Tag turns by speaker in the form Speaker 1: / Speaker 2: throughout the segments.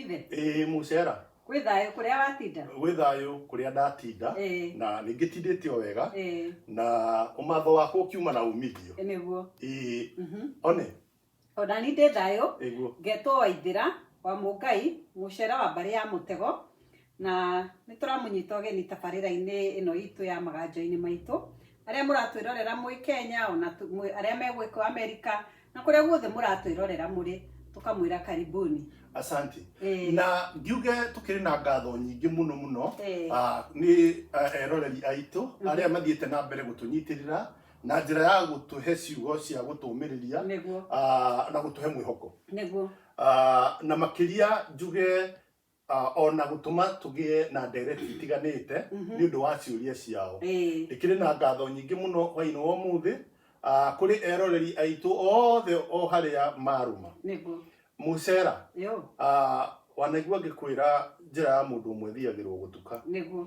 Speaker 1: Ithe. Ĩĩ mũcera. Kwĩ thayũ kũrĩa watinda. Gwĩ thayũ kũrĩa ndatinda. Ĩĩ. Na ningĩ tindĩte o wega. Ĩĩ. Na ũmatho wakwa ũkiuma na umithio. Nĩguo. Ĩĩ. Mhm. One. Ona niĩ ndĩ thayũ. Nĩguo. Ngetwo Waithĩra wa Mũngai, mũcera wa mbarĩ ya mũtego, Na nĩ tũramũnyita ũgeni tabarĩra-inĩ ĩno itũ ya maganjo-inĩ maitũ. Arĩa mũratwĩrorera mwĩ Kenya, ona arĩa me gũkũ Amerika, na kũrĩa guothe mũratwĩrorera mũrĩ, tũkamwĩra karibuni. Asante. Eh. Na ngiuge tukiri na ngatho nyingi muno muno eh. ah, ni ah, eroreri aitũ mhm. aria mathiite na mbere gutunyitirira na njira ya gutuhe ciugo cia gutumiriria ah, na gutuhe mwihoko. Niguo. Na makiria njuge Ah, o na gũtũma tũgĩe na ndereti itiganĩte nĩ ũndũ wa ciũria ciao Ĩĩ. ndĩkĩrĩ na ngatho nyingĩ mũno hwainĩ wa ũmũthĩ ah, kũrĩ eroreri aitũ othe o harĩa marũma nĩguo mũcera yo ah, wanaigua ngĩkwĩra njĩra ya mũndũ ũmwe thiagĩrwo gũtuka nĩguo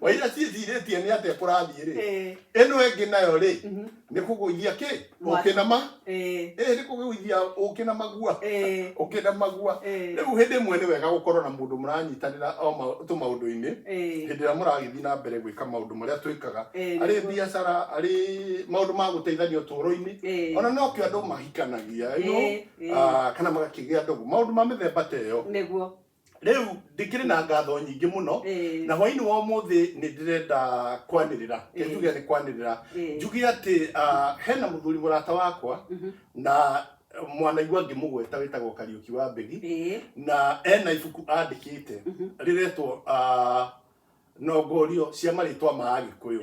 Speaker 1: waira ciĩcirĩtie nĩ atĩa kũrathiĩ rĩ Eh, ĩno ĩngĩ nayo rĩ mhm, nĩ kũgũithia kĩ Mwaki. ũkĩ na ma eh, ĩĩ nĩ kũgũithia ũkĩ na magua eh, ũkĩ na magua eh, rĩu hĩndĩ ĩmwe nĩ wega gũkorwo na mũndũ mũranyitanĩra o ma- tũmaũndũ-inĩ eh, hĩndĩ ĩrĩa mũragĩthiĩ na mbere gwĩka maũndũ marĩa twĩkaga eh, arĩ nĩguo. biacara arĩ maũndũ ma gũteithania ũtũũro-inĩ Eh, ona nokĩo andũ mahikanagia you know, eh, eh, ah, kana magakĩgĩa ndogo maũndũ ma mĩthemba ta ĩyo nĩguo rĩu ndĩkĩrĩ na ngatho nyingĩ mũno na hwainĩ wa ũmũthĩ nĩ ndĩrenda kwanĩrĩra njuge nĩ kwanĩrĩra njuge atĩ hena mũthuri mũrata wakwa mhm. na mwanaigua ngĩmũgweta wĩtagwo kariũki wa mbegi na ena ibuku andĩkĩte mhm. rĩretwo nongorio cia marĩtwa ma agĩkũyũ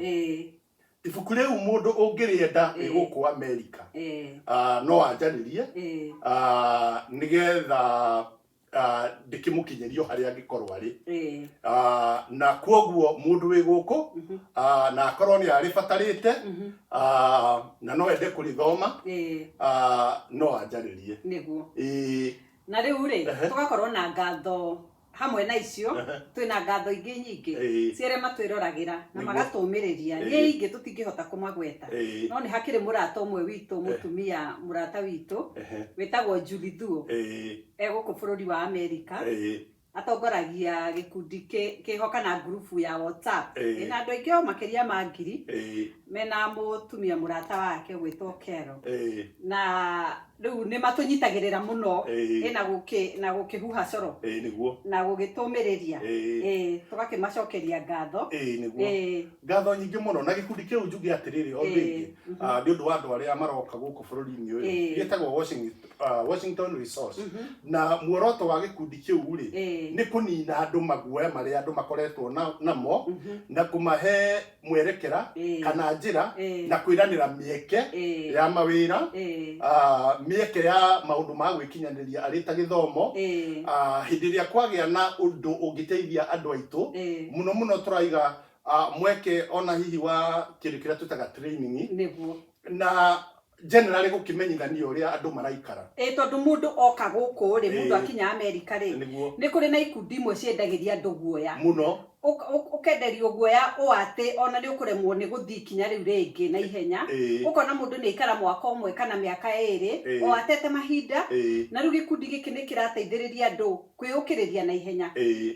Speaker 1: ibuku rĩu mũndũ ũngĩrĩenda rĩ gũkũ amerika no anjarĩrie nĩgetha ah, ndĩkĩmũkinyĩrio harĩa angĩkorwo arĩ Ĩĩ. Ah, na kwoguo mũndũ wĩ gũkũ Mhm. ah, na akorwo nĩ arĩbatarĩte Mhm. ah, na no ende kũrĩthoma Ĩĩ. ah, no anjarĩrie nĩguo Ĩĩ, na rĩu rĩ Ehe. tũgakorwo na ngatho hamwe na icio Ehe. twĩ na ngatho ingĩ nyingĩ Ĩĩ. cia arĩa matwĩroragĩra na Nĩguo. magatũmĩrĩria Ĩĩ. nĩ ingĩ tũtingĩhota kũmagweta ĩĩ, no nĩ hakĩrĩ mũrata ũmwe witũ mũtumia mũrata witũ ehe, wĩtagwo Julie Thuo ĩĩ, e gũkũ bũrũri wa amerika Ĩĩ. atongoragia gĩkundi kĩ- kĩho kana ngurubu ya whatsapp Ĩĩ. ĩna andũ aingĩ o makĩria ma ngiri Ĩĩ. mena mũtumia mũrata wake gwĩtwo kero Ĩĩ. na rĩu nĩ matũnyitagĩrĩra mũno Ĩĩ. ĩ na gũkĩ na gũkĩhuha coro Ĩĩ nĩguo na gũgĩtũmĩrĩria Ĩĩ. Ĩĩ, tũgakĩmacokeria ngatho Ĩĩ nĩguo Ĩĩ, ngatho nyingĩ mũno na gĩkundi kĩu njuge atĩrĩrĩ o Ĩĩ. rĩngĩ ah, nĩ ũndũ wa andũ arĩa maroka gũkũ bũrũri-inĩ ũyũ Ĩĩ. gĩtagwo Washington uh, Washington Resource na muoroto wa gĩkundi kĩu rĩ Eh. nĩ kũnina andũ maguoya marĩa andũ makoretwo na- namo na kũmahe mwerekera Eh. kana njĩra Eh. na kwĩranĩra mĩeke Eh. ya mawĩra Eh. ah, mĩeke ya maũndũ ma gwĩkinyanĩria arĩ ta gĩthomo Eh. ah, hĩndĩ ĩrĩa kwagĩa na ũndũ ũngĩteithia andũ aitũ Eh. mũno mũno tũraiga ah, mweke ona hihi wa kĩndũ kĩrĩa twĩtaga training nĩguo na generally gũkĩmenyithania ũrĩa andũ maraikara ĩ tondũ mũndũ oka gũkũ rĩ Ĩĩ. mũndũ akinya amerika rĩ nĩguo nĩ kũrĩ na ikundi imwe ciendagĩria andũ guoya mũno Ũk- ũk- ũkenderio guoya ũ atĩ ona nĩ ũkũremwo nĩ gũthiĩ ikinya rĩu rĩngĩ na ihenya Ĩĩ. ũkona mũndũ nĩ aikara mwaka ũmwe kana mĩaka ĩrĩ Ĩĩ. o atete mahinda Ĩĩ. na rĩu gĩkundi gĩkĩ nĩ kĩrateithĩrĩria andũ kwĩyũkĩrĩria na ihenya Ĩĩ.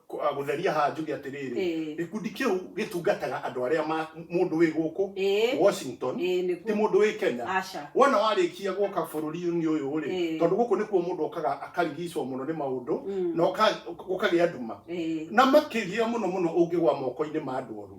Speaker 1: Kũ- ah, gũtheria haha njuge atĩrĩrĩ Ĩĩ. gĩkundi kĩu gĩtungataga andũ arĩa ma mũndũ wĩ gũkũ Ĩĩ. washington Ĩĩ, nĩguo. ti mũndũ wĩ kenya Aca. wona warĩkia gũka bũrũri-inĩ ũyũ rĩ Ĩĩ. tondũ gũkũ nĩkuo mũndũ okaga akarigicwo mũno nĩ maũndũ na ũka- gũkagĩa nduma Ĩĩ. na makĩria mũno mũno ũngĩgwa moko-inĩ ma andũ oru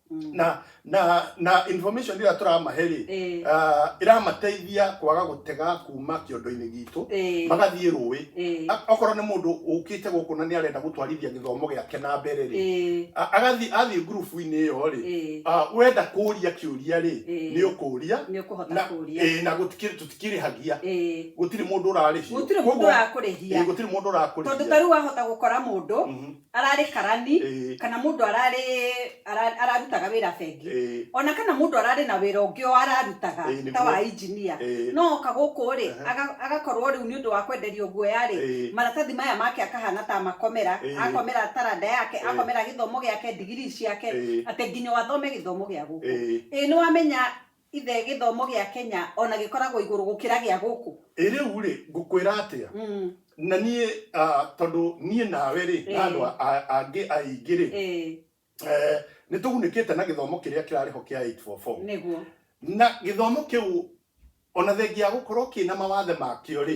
Speaker 1: Mm. na na na information ĩrĩa tũramahe rĩ Eh, ah, ĩramateithia kwaga gũtega kuma kĩondo-inĩ gitũ eh, magathiĩ rũĩ eh, A- okorwo nĩ mũndũ ũkĩte gũkũ na nĩ arenda gũtwarithia gĩthomo gĩake na mbere rĩ eh, a- agathiĩ athiĩ ngurubu-inĩ ĩyo rĩ eh, ah, wenda kũria kĩũria rĩ Eh. nĩ ũkũria nĩ ũkũhota na kũria eh, na gũtikĩrĩ tũtikĩrĩhagia Eh, gũtirĩ mũndũ ũrarĩhio gũtirĩ mũndũ Koguo, eh, ũrakũrĩhia gũtirĩ mũndũ tondũ ta ũrakũrĩhia rĩu wahota gũkora mũndũ Mhm. ararĩ karani Ĩĩ. kana mũndũ ararĩ ara- ararutaga wĩra bengi Ĩĩ. ona kana mũndũ ararĩ na wĩra ũngĩ o ararutaga Ĩĩ, nĩguo. ta wa injinia Ĩĩ. no oka gũkũ rĩ Aha. aga- agakorwo rĩu nĩ ũndũ wa kwenderio guoya rĩ Ĩĩ. maratathi maya make akahana ta makomera Ĩĩ. akomera taranda yake Ĩĩ. akomera gĩthomo gĩake ndigiri ciake Ĩĩ. atĩ nginya wathome gĩthomo gĩa gũkũ Ĩĩ. ĩĩ nĩ wamenya Ithe, gĩthomo gĩa Kenya o na gĩkoragwo igũrũ gũkĩra gĩa gũkũ. Ĩ rĩu-rĩ, ngũkwĩra atĩa? Na niĩ, tondũ niĩ nawe-rĩ, na andũ angĩ aingĩ-rĩ, nĩtũgunĩkĩte na gĩthomo kĩrĩa kĩrarĩ ho kĩa 8-4-4. Nĩguo. Na gĩthomo kĩu, o na thengia ya gũkorwo kĩna mawathe makĩo-rĩ,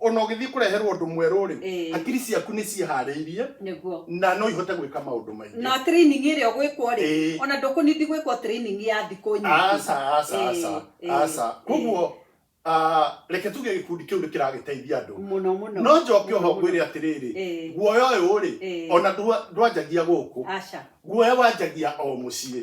Speaker 1: ona ũgĩthiĩ kũreherwo ũndũ mwerũ-rĩ Ĩĩ. hakiri ciaku nĩ ciĩharĩirie nĩguo na no ihote gwĩka maũndũ maingĩ na training ĩrĩa ũgwĩkwo rĩ Ĩĩ. ona ndũkũnindi gwĩkwo training ya thikũ nyingĩ aca aca Ĩĩ, aca ĩĩ, aca ĩĩ. koguo ah, reke tuge gĩkundi kĩu nĩ kĩragĩteithia andũ mũno mũno no njoke oho mũno, mũno. ngwĩre atĩrĩrĩ Ĩĩ. guoya ũyũ rĩ Ĩĩ. ona ndwa- ndwanjagia gũkũ aca guoya wanjagia o mũciĩ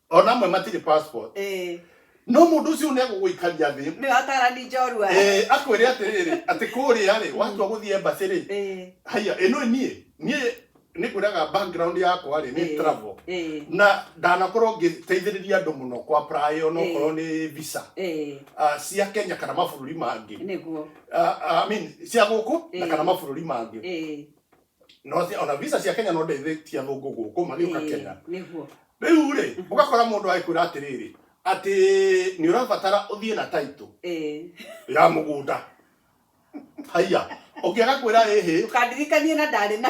Speaker 1: ona amwe matirĩ passport eh no mũndũ ũcio nĩ agũgũikaria thĩ nĩ watarani njorua Eh, akwĩre atĩrĩrĩ atĩ kũrĩa rĩ watua gũthiĩ embassy rĩ eh haya ĩno niĩ niĩ nĩ kwĩraga background yakwa rĩ nĩ eh, travel eh na ndanakorwo ngĩteithĩrĩria andũ mũno kwa apply ona okorwo nĩ visa eh ah, cia Kenya kana mabũrũri mangĩ nĩguo Ah, ah, I mean cia gũkũ na Eh. kana mabũrũri mangĩ eh no cia- ona visa cia kenya no ndeithĩtie athũngũ gũkũ magĩũka Ĩĩ, kenya nĩguo rĩu rĩ ũgakora mũndũ agĩkwĩra atĩrĩrĩ atĩ nĩ ũrabatara ũthiĩ na taitũ Ĩĩ. ya mũgũnda haiya ũngĩ agakwĩra ĩhĩ ndũkandirikanie na ndarĩ na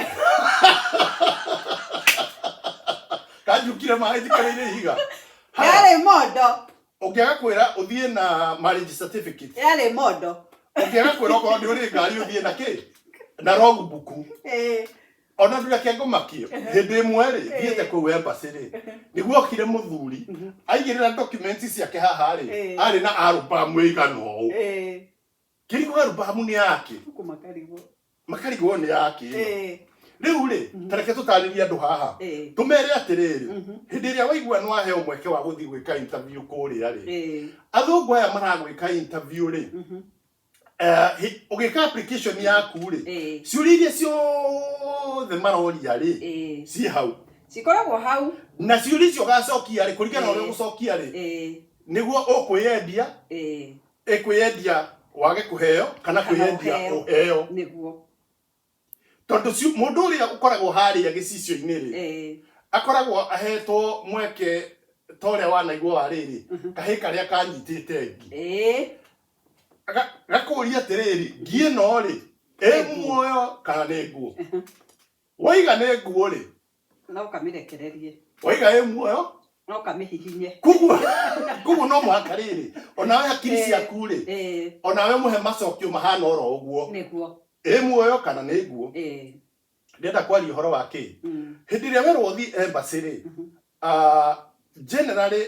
Speaker 1: kanjukire maĩ njikareire ihiga Haya. yarĩ mondo Ũngĩaga kwĩra ũthiĩ na marriage certificate. Yarĩ mondo. Ũngĩaga kwĩra okorwo nĩ ũrĩ ngari ũthiĩ na kĩ? Na rogu buku. Eh. Ona ndũrĩ ake ngomakio. Hĩndĩ ĩmwe rĩ, thiĩte kũu embassy rĩ. Nĩguo okire mũthuri. Aigĩrĩra documents ciake haha rĩ, arĩ na album ĩigana ũũ. kĩrigũ arubamu nĩ yake Huku makarigo. makarigwo nĩ yake ĩno Eh, rĩu rĩ Mhm. tareke tũtarĩrie andũ haha eh, tũmere atĩrĩrĩ mhm, hĩndĩ ĩrĩa waigua nĩ waheo mweke wa gũthiĩ gwĩka interview kũrĩa rĩ eh, athũngũ aya maragwĩka interview rĩ mhm, eh, hĩ- ũgĩka application yaku rĩ eh, ciũria iria ciothe maroria rĩ eh. ciĩ hau cikoragwo hau na ciũria icio ũgacokia rĩ kũringana na ũrĩa Eh. ũgũcokia rĩ eh, nĩguo ũkwĩyendia eh, Ĩ kwĩyendia wage kũheo kana Kana kwĩyendia ũheo. ũheo nĩguo tondũ ci- mũndũ ũrĩa ũkoragwo harĩa gĩcicio-inĩ rĩ Eh, akoragwo ahetwo mweke ta ũrĩa wanaigua wa rĩrĩ kahĩ karĩa kanyitĩte ngi eh, Ga- gakũũria atĩrĩrĩ ngi ĩno rĩ ĩ muoyo kana nĩ nguo waiga nĩ nguo rĩ No kamĩrekererie. Waiga ĩ muoyo? No kamĩhihinye. Kugua, kugua no mũhaka rĩrĩ, onawe hakiri eh, ciaku rĩ, eh. onawe mũhe macokio mahana oro ũguo. Nĩguo. Ĩ muoyo kana nĩ nguo? Eh. Ndĩrenda kwaria ũhoro wa kĩ? Mm. Hĩndĩ ĩrĩa werwo ũthiĩ embassy rĩ, mhm. ah, generally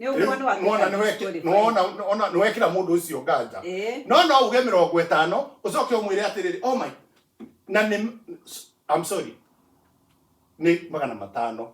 Speaker 1: Nĩ ũguo nĩ wakĩra Nĩwona nĩweki- mũndũ ũrĩ nĩwona nĩwona- nĩwekĩra mũndũ ũcio nganja Ĩĩ. no no uge mĩrongo ĩtano ũcoke ũmwĩre atĩrĩrĩ oh my na nĩ I'm sorry nĩ magana matano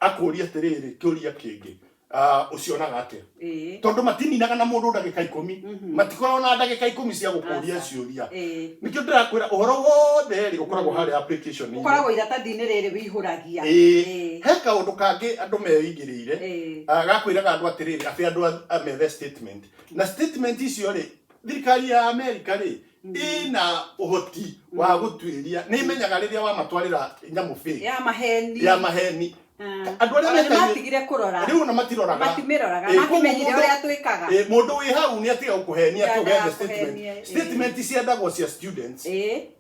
Speaker 1: akũria atĩrĩrĩ kĩũria kĩngĩ ah, ũcionaga atĩa Ĩĩ. tondũ matininaga na mũndũ ndagĩka ikũmi matikoragwo na ndagĩka ikũmi cia gũkũria Aca. ciũria Ĩĩ. nĩkĩo ndĩrakwĩra ũhoro wothe rĩ ũkoragwo harĩ application ũkoragwo iratathi-inĩ rĩrĩ wĩihũragia Ĩĩ. Ĩĩ. he kaũndũ kangĩ andũ meigĩ ire Eh. Ah, gakwĩraga andũ atĩrĩrĩ atĩ andũ a- a methe statement na statement icio rĩ thirikari ya america rĩ ĩna ũhoti wa gũtuĩria nĩ imenyaga rĩrĩa wamatwarĩra nyamũ bĩ ya maheni ya maheni Ah. andũ arĩa Ona mekagia- nĩmatigire kũrora rĩu ona matiroraga Matimĩroraga, Eh, koguo matimenyire mũndũ- ũrĩa twĩkaga. eh, mũndũ wĩ hau nĩ atiga gũkũhenia atĩ Ndandaga ũgethe kũhenia, eh. statement statement ciendagwo cia students Ĩĩ.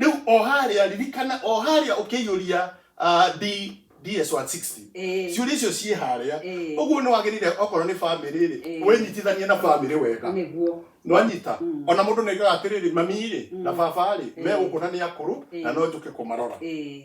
Speaker 1: rĩu o harĩa ririkana o harĩa ũkĩiyũria ah, D- ds 160 Eh. ciũria icio ciĩ harĩa Eh. ũguo nĩ wagĩrĩire okorwo nĩ bamĩrĩ rĩ Eh. wĩnyitithanie na bamĩrĩ wega nĩguo nwanyita Mm. ona mũndũ nĩoigaga atĩrĩrĩ mami rĩ na baba rĩ Eh. megũkũna nĩ akũrũ na Eh. no njũke kũmarora Eh,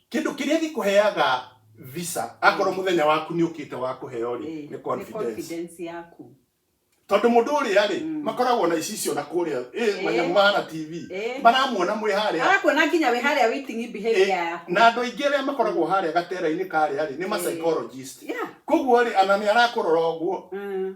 Speaker 1: Kĩndũ kĩrĩa gĩkũheaga visa, akorwo mũthenya waku nĩ ũkĩte wa kũheo rĩ, Eh, nĩ confidence. confidence yaku Tondũ mũndũ ũrĩa rĩ, makoragwo na ici icio na kũrĩa, eh, Eh. manyamũ mahana TV, Eh. maramuona mwĩ harĩa. arakuona nginya wĩ harĩa waiting Eh, behavior yaku na andũ aingĩ arĩa makoragwo harĩa gatera-inĩ karĩa rĩ, nĩ ma Eh. psychologist. Yeah. Koguo rĩ, ana nĩ arakũrora ũguo, Mm.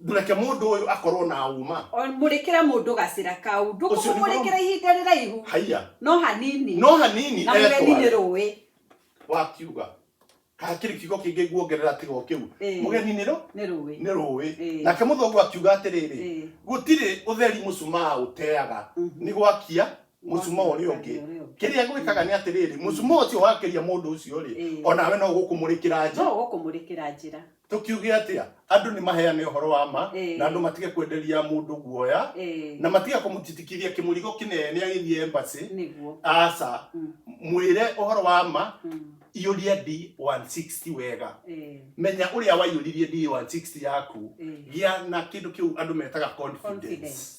Speaker 1: Ndũreke mũndũ ũyũ akorwo na ũma. O mũrĩkĩre mũndũ gacĩra kau. Ũcio nĩ Ndũkũmũmũrĩkĩra mũrũmu. ihinda rĩraihu. Haiya. No hanini. No hanini Na mũgeni nĩ etware. rũĩ. Wakiuga. Hakĩrĩ kiugo kĩngĩ nguongerera tiga o kĩu. Ĩĩ. Mũgeni nĩ rũ? Nĩ rũĩ. Nĩ rũĩ. Ĩĩ. Nake mũthũngũ akiuga atĩrĩrĩ, Ĩĩ. gũtirĩ ũtheri mũcumaa ũteaga, Mhm. nĩ gwakia mũcumaa ũrĩa ũngĩ. Ũrĩa ũngĩ. Kĩrĩa gwĩkaga nĩ atĩrĩrĩ, mũcumaa ũcio wakĩria mũndũ ũcio-rĩ, Ĩĩ. o nawe no gũkũmũrĩkĩra njĩra. No gũkũmũrĩkĩra njĩra. Tũkiuge atĩa? Andũ nĩ maheane ũhoro wa ma Ĩĩ. na andũ matige kwenderia mũndũ guoya Ĩĩ, na matige kũmũtitikithia kĩmũrigo kĩnene agĩthiĩ embassy. nĩguo Aca, Mm. mwĩre ũhoro wa ma, Mm, iyũria D160 wega. ĩĩ, Menya ũrĩa waiyũririe D160 yaku, ĩĩ. gĩa na kĩndũ kĩu andũ metaga confidence. Confidence.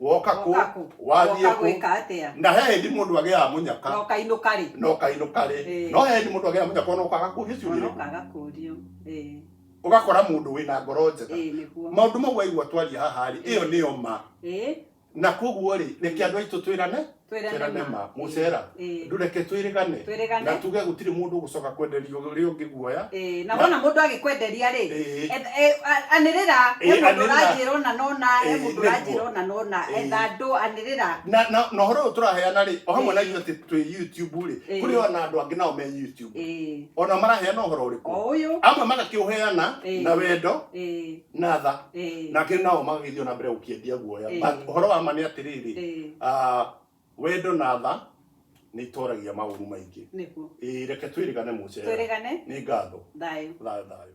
Speaker 1: woka kũ Woka kũ? wathiĩ Woka kũ gwĩka atĩa? na he hĩndĩ mũndũ agĩaga mũnyaka Na ũkainũka rĩ? na ũkainũka rĩ Ĩĩ. no he hĩndĩ mũndũ agĩaga mũnyaka ona ũkaga kũũrio ciũria Ona irĩkũ. ũkaga kũũrio. Ĩĩ, ũgakora mũndũ wĩna ngoro njega ĩĩ nĩguo. maũndũ mau waigua twaria haha rĩ ĩyo nĩyo ma Ĩĩ, na koguo rĩ reke andũ aitũ twĩrane twĩrane ma mucera Eh. ndureke twĩrĩgane Twĩrĩgane. na tuge gũtirĩ mũndũ gũcoka kwenderio ũrĩa ũngĩ guoya Eh, na wona mũndũ agĩkwenderia rĩ Eh. eth- eh, a- anĩrĩra he Eh, mũndũ anĩrĩra. ũranjĩra ũna na ũna he Eh, mũndũ nĩguo. ũranjĩra ũna na ũna Eh. etha andũ anĩrĩra na na na ũhoro ũyũ tũraheana rĩ o hamwe na Eh. ithuĩ atĩ twĩ youtube rĩ Eh. kũrĩ ona andũ angĩ nao me youtube Eh, ona maraheana ũhoro ũrĩkũ o ũyũ amwe magakĩũheana Eh. na wendo eh. na tha Eh, nake nao magagĩthiĩ na mbere gũkĩendia guoya Eh. But ũhoro wa ma nĩ atĩrĩrĩ eh, ah, wendo na tha nĩ itoragia maũru maingĩ nĩguo Ĩĩ, reke twĩrĩgane mũcera twĩrĩgane nĩ ngatho thayũ thayũ thayũ